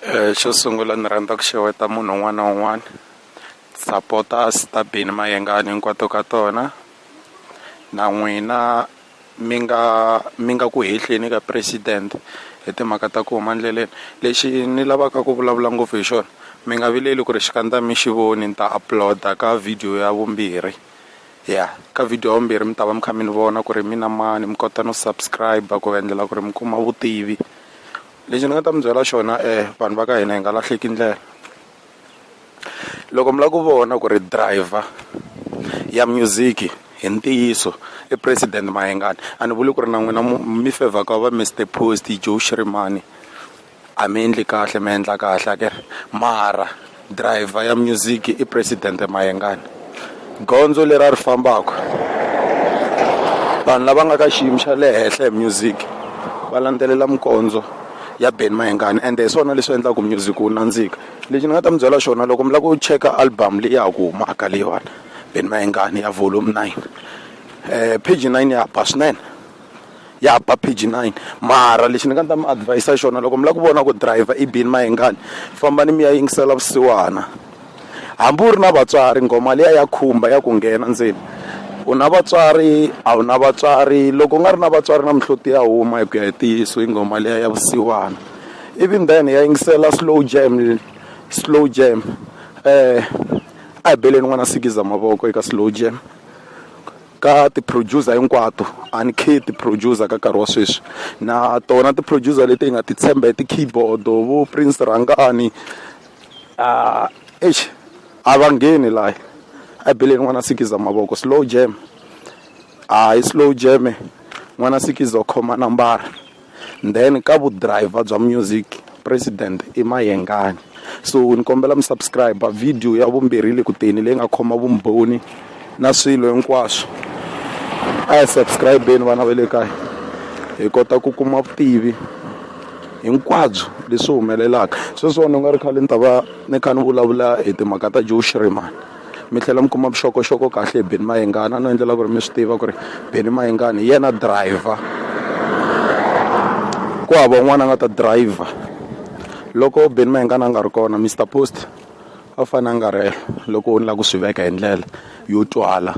Eh, xo sungula ni rhandza ku xeweta munhu un'wana na un'wana sapota Star Bini Mayengani hinkwato ka tona na n'wina mi nga mi nga ku hehleni ka president hi timhaka ta ku huma endleleni lexi ni lavaka ku vulavula ngopfu hi xona mi nga vileli ku ri xikandza mi xi voni ni ta upload-a ka video ya vumbirhi ya ka video ya vumbirhi mi ta va mi kha mi ni vona ku ri mina mani mi kota no subscribe-a ku endlela ku ri mi kuma vutivi. lexi ni nga ta mi byela xona vanhu va ka hina hi nga lahleki ndlela loko mi lava ku vona ku ri driver ya music hi ntiyiso i president Mayengani a ni vuli ku ri na n'wina mi fevha ku va Mister Post Joe Shirimani a mi endli kahle mi endla kahle a ka mara. driver ya music i president mayengani gondzo leri a ri fambaka vanhu lava nga ka xiyimo xa le henhla hi music va landzelela mikondzo ya ben mayengani ende hi swona leswi endlaka music wu nandzika lexi ni nga ta mi byela xona loko mi lava ku cheka album leyi ya ku humaka leyiwani ben mayengani ya volume nine um page nine ya ba swinene ya ba page nine mara lexi ni nga ta mi adhivayisa xona loko mi lava ku vona ku dirayivha i bini mayengani fambani mi ya yingisela vusiwana hambi u ri na vatswari nghoma liya ya khumba ya ku nghena ndzeni u na vatswari a wu na vatswari loko u nga ri na vatswari na mihloti ya huma hi ku ya hi ntiyiso i nghoma liya ya vusiwana ivi then ya yingisela slow jam slow jam a hi beleni n'wana sikiza mavoko eka slow jam. ka ti-producer hinkwato a ni khe ti-producer ka nkarhi wa sweswi na tona ti-producer leti hi nga ti tshemba hi ti-keyboard vo Prince Rhangani a eish a va ngheni laha a beleni n'wana sikiza mavoko slow jam a hi slow jam n'wana sikiza u khoma nambara. then ka vu driver bya music president i mayengani so ni kombela mi subscribe video ya vumbirhi le kuteni leyi nga khoma vumbhoni na swilo hinkwaswo a hi subscribeni vana va le kaya hi kota ku kuma vutivi hinkwabyo leswi humelelaka sweswiwani u nga ri khale ni ta va ni kha ni vulavula hi timhaka ta joe shrimani mi tlhela mi kuma vuxokoxoko kahle hi beni mayengana no endlela ku ri mi swi tiva ku ri beni mayengana hi yena driver ku hava un'wana a nga ta driver loko beni mayengana a nga ri kona mr post a fanele a nga ri loko u ni lava ku swi veka hi ndlela yo twala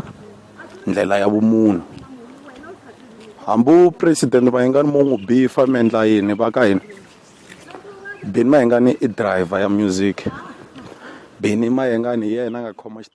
ndlela ya vumunhu hambi president mayengani mo n'wi bifa mi endla yini va ka hina Benny Mayengani i driver ya music Benny Mayengani hi yena a nga khoma .